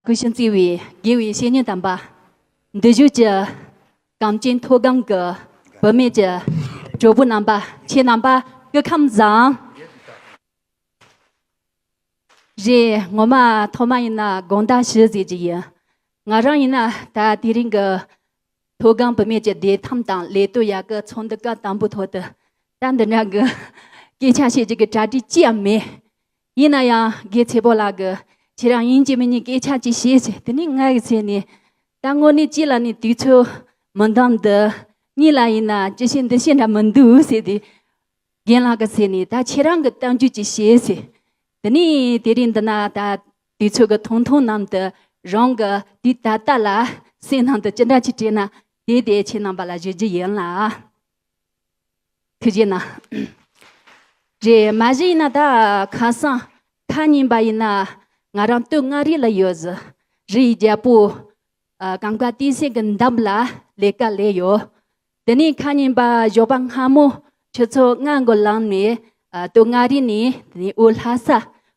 ཀུན་བྱང་བརྩེ་བའི་དགེ་བའི་བཤེས་གཉེན་དམ་པ། འདི་བཞུགས་ཀྱི་གངས་ཅན་མཐོ་སྒང་གི་བུད་མེད་ཀྱི་གྲོགས་པོ་རྣམ་པ་ཁྱེད་རྣམ་པ་སྐུ་ཁམས་བཟང། རེད་ངོ་མ་ཐོག་མ་ཡིན་ན་དགོངས་དག་ཞུ་ཟེར་གྱི་ཡིན། ང་རང་ཡིན་ན་ད་དེ་རིང་གི་མཐོ་སྒང་བུད་མེད་ཀྱི་བདེ་ཐང་དང་ལས་གཏོད་ཡག་གི་ཚོགས་འདུ་སྐབས་དང་པོའི་ཐོག་ཏུ་ད་འདི་འདྲ་གི་སྐད་ཆ་བཤད་རྒྱུ་གི་གྲ་སྒྲིག་ཅི་ཡང་མེད། ཡིན་ན་ཡང་རྒས་ཚེ་པོ་ལགས་ཀྱིས་ཁྱེད་རང་ཡིན་གཅིག་མིན་གཉིས་སྐད་ཆ་གཅིག་བཤད་ཚེ་དེ་ནི་ང་ཡི་ཚེ་ནི། ད་དངོས་གནས་ཅི་ལ་ནི་དུས་ཚོད་མི་འདང་འདི་གཉིས་ལ་ཡིན་ན་ཅི་བཤད་འདི་བཤད་འདྲ་མི་འདུག་ཟེར་དུས། རྒན་ལགས་ཀྱི་ཚེ་ནི་ད་ཁྱེད་རང་གི་གཏམ་རྒྱུད་ཅིག་བཤད་ཚེ། དེ་ནི་དེ་རིང་འདི་ན་ད་དུས་ཚོད་ཀྱི་ཐུང་ཐུང་ནམ་དུ་རང་གི་དུས་ད་ལྟ་ལ་སེམས་ནང་དུ་ཅི་འདྲ་ཅིག་དྲན་ན་དེ་དེ་ཁྱེད་རྣམ་པ་ལ་བརྗོད་རྒྱུ་ཡིན་ལགས། ཁྱེད་ཀྱིས་ན། རེད་མ་གཞི་ཡིན་ན་ད་ཁ་སང་ཁ་ཉིན་པ་ཡིན་ན་ང་རང་སྟོད་མངའ་རིས་ལ་ཡོད་ཟི་རི་ཡི་རྒྱལ་པོ་གངས་དཀར་སྟེང་སེང་གི་འདམ་ལ་ལས་ཀ་ལས་ཡོད། དེ་ནས་ཁ་ཉིན་པ་ཞོགས་པ་སྔ་མོ་ཁྱོད་ཚོ་སྔ་མགོ་ལངས་ནས་སྟོད་མངའ་རིས་ནས་དེ་ནས་དབུས་ལྷ་ས་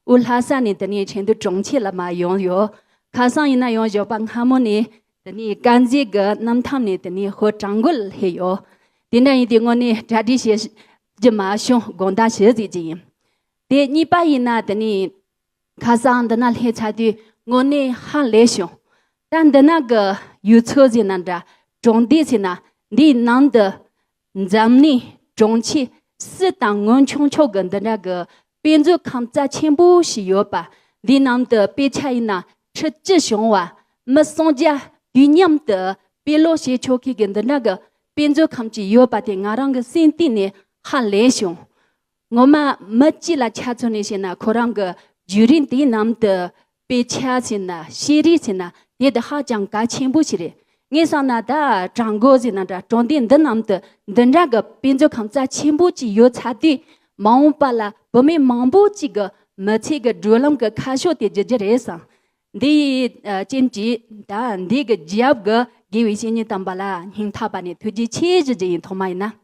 དབུས་ལྷ་ས་ནས་དེ་ནས་ཆེན་དུ་གྲོང་ཁྱེར་ལ་མ་ཡོང་ཡོད། ཁ་སང་ཡིན་ན་ཡང་ཞོགས་པ་སྔ་མོ་ནས་དེ་ནས་དཀར་མཛེས་ཀྱི་གནམ་ཐང་ནས་དེ་ནས་ཧོར་བྲག་མགོ་ལ་སླེབས་ཡོད། དེ་འདྲ་ཡིན་དུས་དངོས་གནས་གྲ་སྒྲིག་བྱེད་རྒྱུ་མ་བྱུང་དགོངས་དག་ཞུ་རྩིས་ཀྱི་ཡིན། དེ་གཉིས་པ་ཡིན་ན་དེ་ནས་ཁ་སང་འདི་ན་སླེབས་ཚར་དུས་དངོས་གནས་ཧ་ལས་བྱུང། ད་འདི་ན་གི་ཡུལ་ཚོ་ཟེར་ན་འདྲ་གྲོང་སྡེ་ཟེར་ན་འདིའི་ནང་དུ་འཛམ་གླིང་གྲོང་ཁྱེར་སུ་དང་སྔོན་བྱུང་ཕྱོགས་ཀྱི་འདི་འདྲ་གི་དཔེ་མཛོད་ཁང་རྩ་ཆེན་པོ་ཞིག་ཡོད་པ་འདི་ནང་དུ་དཔེ་ཆ་ཡིན་ན་ཁྲི་བཅུ་བྱུང་བ་མི་སུམ་བརྒྱ་དུས་མཉམ་དུ་དཔེ་ཀློག་བྱེད་ཆོག་མཁན་གྱི་འདི་འདྲ་གི་དཔེ་མཛོད་ཁང་ཅིག་ཡོད་པ་དེ་ང་རང་གི་སེམས་གཏིང་ནས་ཧ་ལས་བྱུང། ངོ་མ་མི་སྤྱི་ལ་ཆ་མཚོན་ནས་བཤད་ན་ཁོ་རང་གི་བརྒྱུད་རིམ་དེའི་ནང་དུ་དཔེ་ཆ་ཟེར་ན་ཤེས་རིག་ཟེར་ན་དེ་དེ་ཧ་ཅང་གལ་ཆེན་པོ་ཞིག་རེད། ངས་བསམ་ན་ད་གྲངས་འགོ་ཟེར་ན་འདྲ་གྲོང་སྡེ་འདི་རྣམས་དུ་འདི་འདྲ་གི་དཔེ་མཛོད་ཁང་རྩ་ཆེན་པོ་གཅིག་ཡོད་ཚར་དུས་མ་འོངས་པ་ལ་བུད་མེད་མང་པོ་གཅིག་གི་མི་ཚེ་གི་བགྲོད་ལམ་གི་ཁ་ཕྱོགས་དེ་བརྗེ་རྒྱུ་རེད་བསམ། འདི་ཡི་རྐྱེན་གྱིས་ད་འདས་ཀྱི་རྒྱབ་གི་དགེ་བའི་བཤེས་གཉེན་དམ་པ་ལ་སྙིང་ཐག་པ་ནས་ཐུགས་རྗེ་ཆེ་ཞུ་རྒྱུ་ཡིན་ཐོག་མ་ཡིན་ན།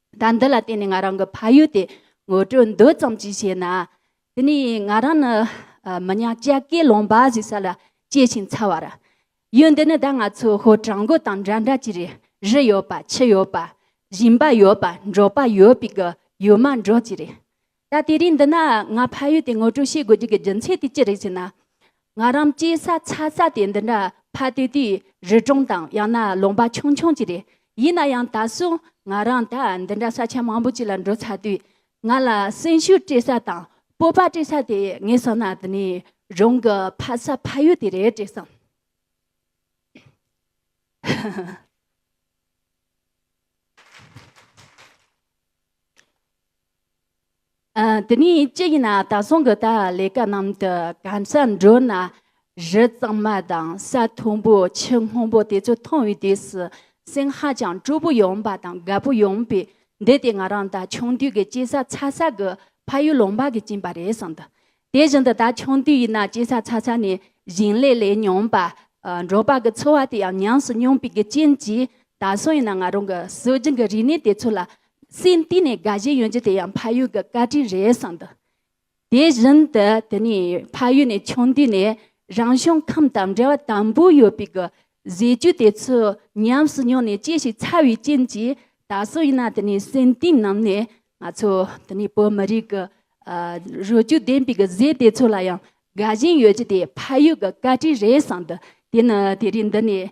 ཟླ་འདི་ལ་བརྟེན་ནས་ང་རང་གི་ཕ་ཡུལ་དེ་ངོ་སྤྲོད་འདོད་ཙམ་གྱིས་བྱས་ན། དེ་ནས་ང་རང་ནི་མི་ཉག་ལྕགས་སྐེད་ལུང་པ་ཞེས་ས་ལ་སྐྱེས་ཤིང་འཚར་བ་རེད། ཡུལ་འདི་ནི་ད་ང་ཚོ་ཧོར་བྲག་མགོ་དང་འདྲ་འདྲ་གྱི་རེད། རི་ཡོད་པ་ཆུ་ཡོད་པ། ཞིང་པ་ཡོད་པ་འབྲོག་པ་ཡོད་པའི་གི་ཡུལ་མ་འབྲོག་གི་རེད། ད་དེ་རིང་འདི་ན་ང་ཕ་ཡུལ་དེ་ངོ་སྤྲོད་བྱེད་དགོས་རྒྱུ་གི་རྒྱུ་མཚན་དེ་ཅི་རེད་ཟེར་ན། ང་རང་སྐྱེས་ས་ཚ་ས་དེ་འདི་འདྲ་ཕ་དེ་དུས་རི་གྲོང་དང་ཡང་ན་ལུང་པ་ཆུང་ཆུང་ཅིག་རེད། ཡིན་ན་ཡང་ད་སོང་ང་རང་ད་འདི་འདྲ་ས་ཆ་མང་པོ་ཅིག་ལ་འགྲོ་ཚར་དུས་ང་ལ་སེམས་ཤུགས་སྤྲད་ས་དང་སྤོབས་པ་སྤྲད་ས་དེ་ངས་བསམ་ན་འདི་ནས་རང་གི་ཕ་ས་ཕ་ཡུལ་དེ་རེད་ཅེས་བསམ། དེ་ནས་ཅི་ཡིན་ན་ད་སོང་གི་ད་ལས་ཀ་ནང་དུ་གང་ས་འགྲོ་ན་རི་གཙང་མ་དང་ས་མཐོན་པོ་ཆུ་སྔོན་པོ་དེ་ཚོ་མཐོང་བའི་དུས་སུ་སེམས་ཧ་ཅང་སྤྲོ་པོ་ཡོང་པ་དང་དགའ་པོ་ཡོང་པས་འདི་དེ་ང་རང་ད་ཆུང་དུས་ཀྱི་སྐྱེས་ས་ཚ་ས་གི་ཕ་ཡུལ་ལུང་པ་གི་བྱིན་པ་རེད་བསམ་དུ་དེ་བཞིན་དུ་ད་ཆུང་དུས་ཡིན་ན་སྐྱེ་ས་ཚ་ཚ་ནས་ཞིང་ལས་ལས་མྱོང་པ། འབྲོག་པ་གི་འཚོ་བ་དེ་ཡང་ཉམས་སུ་མྱོང་པའི་རྐྱེན་གྱིས་ད་སོང་ཡིན་ན་ང་རང་གི་སྲོལ་རྒྱུན་གྱི་རིག་གནས་དེ་ཚོ་ལ་སེམས་གཏིང་ནས་དགའ་བཞིན་ཡོད་རྒྱུ་དེ་ཡང་ཕ་ཡུལ་གྱི་བཀའ་དྲིན་རེད་བསམ་འདུག་དེ་བཞིན་དུ་དེ་ནས་ཕ་ཡུལ་ནས་ཆུང་དུས་ནས་རང་བྱུང་ཁམས་དང་འབྲེལ་བ་དམ་པོ་ཡོད་པའི་གྱི་ཟས་བཅུད་དེ་ཚོ་ཉམས་སུ་མྱོང་ནས་སྐྱེ་ཞིང་འཚར་བའི་རྐྱེན་གྱིས་ད་སོང་ཡིན་ན་དེ་ནས་སེམས་གཏིང་ནང་ནས་ང་ཚོ་འདི་ནས་བོད་མི་རིགས་ཀྱི་རུས་རྒྱུད་ལྡན་པའི་གཟེར་དེ་ཚོ་ལ་ཡང་དགའ་ཞེན་ཡོད་རྒྱུ་དེ་ཕ་ཡུལ་གྱི་བཀའ་དྲིན་རེད་བསམ་འདུག་དེ་ནི་དེ་རིང་འདི་ནས་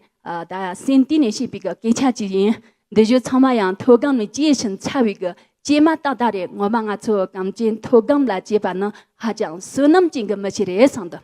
ད་སེམས་གཏིང་ནས་བཤད་པའི་སྐད་ཆ་ཅིག་ཡིན། འདི་བཞིན་ཚང་མ་ཡང་མཐོ་སྒང་ནས་སྐྱེས་ཤིང་འཚར་བའི་སྐྱེས་མ་ཏག་ཏག་རེད་ངོ་མ་ང་ཚོ་གངས་ཅན་མཐོ་སྒང་ལ་སྐྱེས་པ་ནི་ཧ་ཅང་བསོད་ནམས་ཅན་གྱི་མི་ཞིག་རེད་བསམ་འདུག།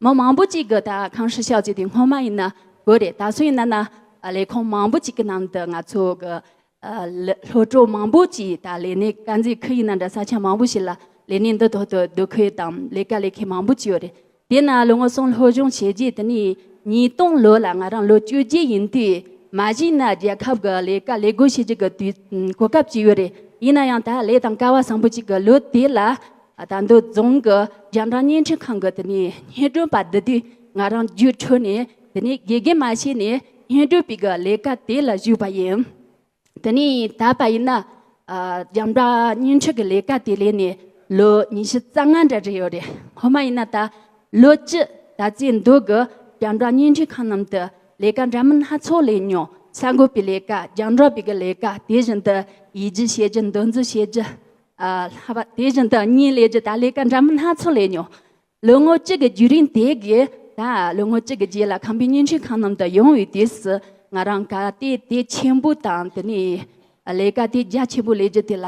མི་མང་པོ་གཅིག་གི་ད་གང་ཧྲི་ཤག་ཅིག་དེ་སྔོན་མ་ཡིན་ན་དགོས་རེད་ད་སོ་ཡིན་ན་ན་ལས་ཁང་མང་པོ་གཅིག་གི་ནང་དུ་ང་ཚོ་གི་སློབ་གྲོགས་མང་པོ་གཅིག་ད་ལས་གནས་དཀར་མཛེས་ཁུལ་ཡིན་ན་འདྲ་ས་ཆ་མང་པོ་ཞིག་ལ་ལས་གནས་འདི་ཐོག་ཏུ་སྡོད་ཁུལ་དང་ལས་ཀ་ལས་མཁན་མང་པོ་གཅིག་ཡོད་རེད་དེ་ན་ལོ་ངོ་སོང་ལྷོ་གཞུང་བྱས་རྗེས་དེ་ནས་ཉིས་སྟོང་ལོ་ལ་ང་རང་ལོ་བཅུ་བརྒྱད་ཡིན་དུས་མ་གཞི་ན་རྒྱལ་ཁབ་གི་ལས་ཀ་ལས་སྒོ་ཕྱེ་རྒྱུ་གི་དུས་གོ་སྐབས་གཅིག་ཡོད་རེད་ཡིན་ན་ཡང་ད་ལས་དང་ཀ་བ་བཟང་པོ་གཅིག་གི་ལོ་དེ་ལ། དར་མདོ་རྫོང་གི་རྒྱ་འབྲང་བརྙན་འཕྲིན་ཁང་གི་དེ་ནས་བརྙན་སྒྲོན་པ་འདི་དུས་ང་རང་རྒྱུགས་འཕྲོད་ནས་དེ་ནས་དགེ་རྒན་མ་བྱས་ནས་བརྙན་སྒྲོན་པའི་གི་ལས་ཀ་དེ་ལ་ཞུགས་པ་ཡིན། དེ་ནས་ད་བར་ཡིན་ན་རྒྱ་འབྲང་བརྙན་འཕྲིན་གི་ལས་ཀ་དེ་ལས་ནས་ལོ་ཉི་ཤུ་རྩ་ལྔ་འདྲ་རེད་ཡོད་རེད་ཧོ་མ་ཡིན་ན་ད་ལོ་སྤྱི་ད་རྩེ་མདོ་གི་རྒྱ་འབྲང་བརྙན་འཕྲིན་ཁང་རྣམས་དུ་ལས་ཀ་འདྲ་མིན་སྣ་ཚོགས་ལས་མྱོང་གསར་འགོད་པའི་ལས་ཀ་རྒྱང་སྒྲོག་པའི་གི་ལས་ཀ་དེ་བཞིན་དུ་ཡིད་རྒྱུ་བྱེད་རྒྱུ་འདོན་རྩིས་བྱེད་རྒྱུ་ལྷག་པ་དེ་བཞིན་དུ་གཉིས་ལས་ཀྱི་ད་ལས་ཀ་འདྲ་མིན་སྣ་ཚོགས་ལས་མྱོང། ལོ་ངོ་གཅིག་གི་རྒྱུད་རིང་དེ་གའི་ད་ལོ་ངོ་གཅིག་གི་རྗེས་ལ་ཁམས་པའི་བརྙན་འཕྲིན་ཁང་རྣམས་དུ་ཡོང་བའི་དུས་སུ་ང་རང་ག་སྟེ་དེ་ཆེན་པོ་དང་དེ་ནས་ལས་ཀ་དེ་རྒྱ་ཆེན་པོ་ལས་རྒྱུ་དེ་ལ་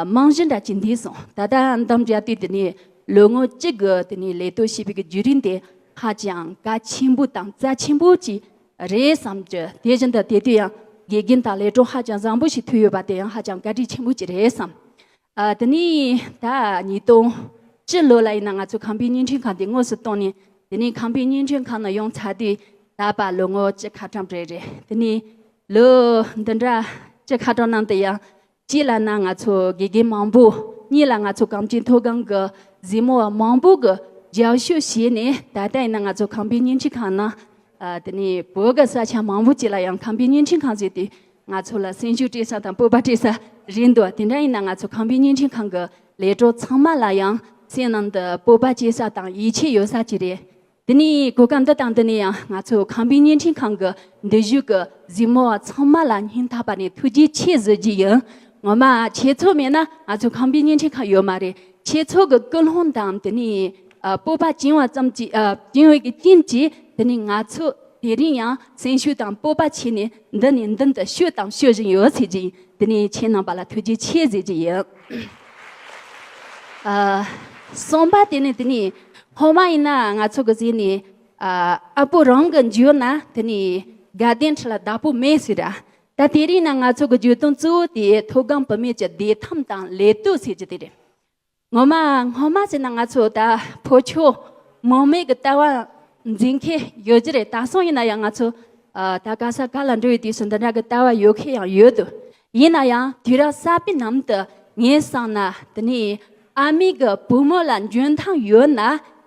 རྨང་གཞི་འདྲ་བྱེད་འདས་སོང་ད་ལྟ་འདམ་རྒྱ་དུས་དེ་ནས་ལོ་ངོ་གཅིག་གི་དེ་ནས་ལས་གཏོད་བྱས་པའི་རྒྱུད་རིང་དེ་ཧ་ཅང་ག་ཆེན་པོ་དང་རྩ་ཆེན་པོ་ཅིག་རེད་བསམ་གྱི་དེ་བཞིན་དུ་དེ་དུས་ཡང་དགེ་རྒན་དང་ལས་གྲོགས་ཧ་ཅང་བཟང་པོ་ཞིག་ཐོས་ཡོད་པ་དེ་ཡང་ཧ་ཅང་བཀའ་དྲིན་ཆེན་པོ་ཅིག་རེད་བསམ། དེ་ནས་ད་ཉིས་སྟོང་བཅུ་ལོ་ལ་ཡིན་ན་ང་ཚོ་ཁང་པའི་བརྙན་འཕྲིན་ཁང་དེ་དངོས་སུ་བཏང་ནས་དེ་ནས་ཁང་པའི་བརྙན་འཕྲིན་ཁང་ནང་ཡོང་ཚར་དུས་ད་བར་ལོ་ངོ་བཅུ་ཁ་གྲངས་རེད་རེད་དེ་ནས་ལོ་འདི་འདྲ་བཅུ་ཁ་གྲངས་ནང་དུ་ཡང་གཅིག་ལ་ན་ང་ཚོ་དགེ་རྒན་མང་པོ་གཉིས་ལ་ང་ཚོ་གངས་ཅན་མཐོ་སྒང་གི་གཟིགས་མོ་བ་མང་པོ་གི་རྒྱབ་བཤུ་བྱས་ནས་ད་ལྟ་ཡིན་ན་ང་ཚོ་ཁང་པའི་བརྙན་འཕྲིན་ཁང་ནང་དེ་ནས་བོད་གི་ས་ཆ་མང་པོ་ཅིག་ལ་ཡང་ཁང་པའི་བརྙན་འཕྲིན་ཁང་བཟོས་ཏེ་ང་ཚོ་ལ་སེམས་ཤུགས་སྤྲད་ས་དང་སྤོབས་པ་སྤྲད་ས་རེད་འདུག་དེ་འདྲ་ཡིན་ན་ང་ཚོ་ཁང་པའི་བརྙན་འཕྲིན་ཁང་གི་ལས་གྲོགས་ཚང་མ་ལ་ཡང་སེམས་ནང་དུ་སྤོབས་པ་སྐྱེ་ས་དང་ཡིད་ཆེས་ཡོད་ས་ཅིག་རེད་དེ་ནས་གོ་སྐབས་འདི་དང་འདི་ནས་ཡང་ང་ཚོས་ཁང་པའི་བརྙན་འཕྲིན་ཁང་གི་འདུས་བཞུགས་ཀྱི་གཟིགས་མོ་བ་ཚང་མ་ལ་སྙིང་ཐག་པ་ནས་ཐུགས་རྗེ་ཆེ་གཟོད་ཀྱི་ཡིན། ངོ་མ་ཁྱེད་ཚོ་མེད་ན་ང་ཚོའི་ཁང་པའི་བརྙན་འཕྲིན་ཁང་ཡོད་མ་རེད། ཁྱེད་ཚོ་གི་སྐུལ་སློང་དང་དེ་ནས་སྤོབས་པ་བྱིན་བ་ཙམ་གྱིས་བྱིན་འོད་ཀྱི་རྐྱེན་གྱིས་དེ་ནས་ང་ཚོ་དེ་རིང་ཡང་སེམས་ཤུགས་དང་སྤོབས་པ་ཆེ་ནས་འདི་ནས་མདུན་དུ་བཤོས་དང་བཤོས་བཞིན་ཡོད་ཟེར་གྱི་ཡིན། དེ་ནས་ཁྱེད་རྣམས་པ་ལ་ཐུགས་རྗེ་ཆེ་གཟོད་ཀྱི་ཡིན། གསུངས་པ་དེ་ནི་དེ་ནི་ཧོ་མ་ཡིན་ན་ང་ཚོ་གི་གཟིགས་ནས་ཨ་ཕོ་རང་གི་འཇོན་ན་དེ་ནི་དགའ་ལྡན་ཁྲི་ལ་བདག་པོ་མེད་ཟེར་ར་ད་དེ་རིང་ན་ང་ཚོ་གི་བརྗོད་དོན་གཙོ་བོ་དེ་མཐོ་སྒང་བུད་མེད་ཀྱི་བདེ་ཐང་དང་ལས་གཏོད་ཟེར་རྒྱུ་དེ་རེད་ངོ་མ་སྔོན་མ་ཟེར་ན་ང་ཚོ་ད་ཕོ་ཁྱོ་མོ་མེད་གི་ལྟ་བ་འཛིན་མཁན་ཡོད་རྒྱུ་རེད་ད་སང་ཡིན་ན་ཡང་ང་ཚོ་ད་ག་ས་ག་ལ་འགྲོ་ཡི་དུས་སུ་འདི་འདྲ་གི་ལྟ་བ་ཡོད་མཁན་ཡང་ཡོད་དུ་ཡིན་ན་ཡང་དུས་རབས་གསར་པའི་ནང་དུ་ངས་བསམ་ན་འདི་ནི་ཨ་མེས་ཀྱི་བུ་མོ་ལ་འཇོན་ཐང་ཡོད་ན་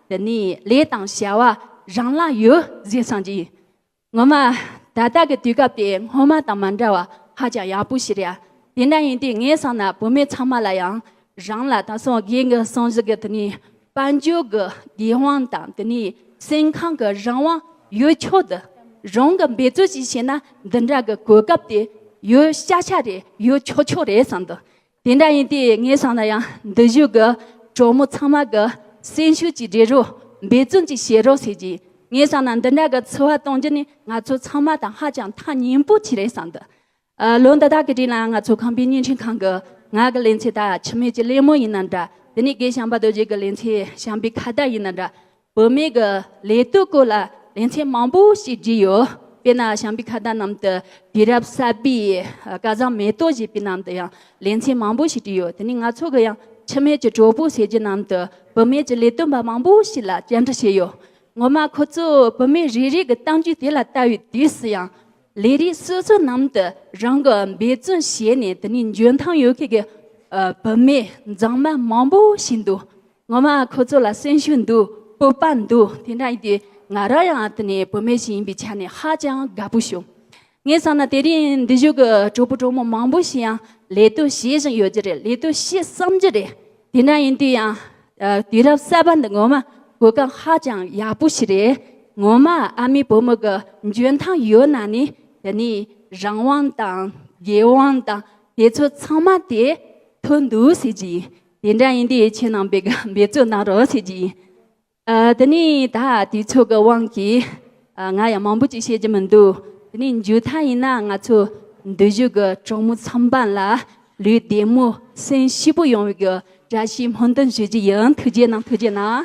འདི་ནི་ལས་དང་བྱ་བ་རང་ལ་ཡོད་ཟེར་བསམ་གྱི་ཡོད། ངོ་མ་ད་ལྟ་གི་དུས་སྐབས་དེ་སྔོན་མ་དང་མ་འདྲ་བ་ཧ་ཅང་ཡག་པོ་ཞིག་རེད་ཨ། དེ་འདྲ་ཡིན་དུས་ངས་བསམ་ན་བུད་མེད་ཚང་མ་ལ་ཡང་རང་ལ་དང་སངས་རྒྱས་ཀྱི་གསུང་བཞིན་གྱི་དེ་ནས་དཔལ་འབྱོར་གྱི་དགེ་དབང་དང་དེ་ནས་སེམས་ཁམས་ཀྱི་རང་དབང་ཡོད་ཆོག་དེ་རང་གི་འབད་རྩོལ་གྱིས་བྱས་ན་འདི་འདྲ་གི་གོ་སྐབས་དེ་ཡོད་ཤག་ཤག་རེད་ཡོད་ཆོག་ཆོག་རེད་བསམ་འདུག་དེ་འདྲ་ཡིན་ཏེ་ངས་བསམ་ན་ཡང་འདི་བཞུགས་ཀྱི་གྲོགས་མོ་ཚང་མ་གི་སེམས་ཤུགས་ཀྱིས་འགྲེལ་རོགས་འབད་བརྩོན་གྱིས་བྱེད་རོགས་ཟེར་གྱིས་ངས་བསམ་ན་འདི་འདྲ་གི་འཚོ་བ་གཏོང་རྒྱུ་ནི་ང་ཚོ་ཚང་མ་དང་ཧ་ཅང་ཐག་ཉེ་པོ་ཆེ་རེད་བསམ་འདུག་ལོ་འདི་དག་གི་དུས་ལ་ང་ཚོ་ཁང་པའི་བརྙན་འཕྲིན་ཁང་གི་ངག་གི་ལེན་ཚེ་དག་འཆི་མེད་ཀྱི་གླེང་མོ་ཡིན་ན་འདྲ་དེ་ནས་སྒེར་བྱམས་པ་རྡོ་རྗེ་གི་ལེན་ཚེ་བྱམས་པའི་ཁ་བརྡ་ཡིན་ན་འདྲ་བུད་མེད་ཀྱི་ལས་གཏོད་སྐོར་ལ་ལེན་ཚེ་མང་པོ་ཞིག་བྲིས་ཡོད་དཔེར་ན་བྱམས་པའི་ཁ་བརྡ་རྣམས་དུ་དུས་རབས་གསར་པའི་སྐལ་བཟང་མེ་ཏོག་བཞད་པའི་ནང་དུ་ཡང་ལེན་ཚེ་མང་པོ་ཞིག་བྲིས་ཡོད་དེ་ནས་ང་ཚོ་གི་ཡང་འཆི་མེད་ཀྱི་གྲོགས་པོ་ཟེར་རྒྱུ་རྣམས་དུ་བུད་མེད་ཀྱི་ལས་དོན་པ་མང་པོ་ཞིག་ལ་བཅར་འདྲི་བྱས་ཡོད་ངོ་མ་ཁོ་ཚོས་བུད་མེད་རེ་རེ་གི་གཏམ་རྒྱུད་དེ་ལ་བལྟ་བའི་དུས་སུ་ཡང་ལས་རིགས་སོ་སོ་ནང་དུ་རང་གི་འབད་བརྩོན་བྱས་ནས་དེ་ནས་འཇོན་ཐང་ཡོད་མཁན་གྱི་བུད་མེད་མཛངས་མ་མང་པོ་ཞིག་འདུག་ངོ་མ་ཁོ་ཚོ་ལ་སེམས་ཤུགས་འདུག་སྤོབས་པ་འདུག་དེ་འདྲ་ཡིན་དུས་ང་རང་ཡང་དེ་ནས་བུད་མེད་ཞིག་ཡིན་པའི་ཆ་ནས་ཧ་ཅང་དགའ་པོ་བྱུང། ངས་བསམ་ན་དེ་རིང་འདི་བཞུགས་ཀྱི་གྲོགས་པོ་གྲོགས་མོ་མང་པོ་ཞིག་ཡང་ལས་དོན་བྱེད་བཞིན་ཡོད་ཀྱི་རེད་ལས་དོན་བྱེད་བསམ་གྱི་རེད་དེ་འདྲ་ཡིན་དུས་ཡང་དུས་རབས་གསར་པ་འདི་ངོ་མ་གོ་སྐབས་ཧ་ཅང་ཡག་པོ་ཞིག་རེད། ངོ་མ་ཨ་མའི་བུ་མོ་གི་འཇོན་ཐང་ཡོད་ན་ནི་དེ་ནས་རང་དབང་དང་རྒྱལ་དབང་དང་དེ་ཚོ་ཚང་མ་དེ་ཐོན་འདུག་ཟེར་གྱི་ཡིན། དེ་འདྲ་ཡིན་དུས་ཁྱེད་རྣམས་པས་འབད་བརྩོན་གནང་རོགས་ཟེར་གྱི་ཡིན། དེ་ནས་ད་དུས་ཚོད་ཀྱི་དབང་གིས་ང་ཡང་མང་པོ་ཅིག་བཤད་རྒྱུ་མི་འདུག་དེ་ནས་མཇུག་མཐའ་ཡིན་ན་ང་ཚོ་འདུས་བཞུགས་ཀྱི་གྲོགས་མོ་ཚང་པ་ལ་ལུས་བདེ་མོ་སེམས་ཞིབ་པོ་ཡོང་བའི་བཀྲ་ཤིས་སྨོན་འདུན་ཞུ་རྒྱུ་ཡིན་ཐུགས་རྗེ་གནང་ཐུགས་རྗེ་གནང།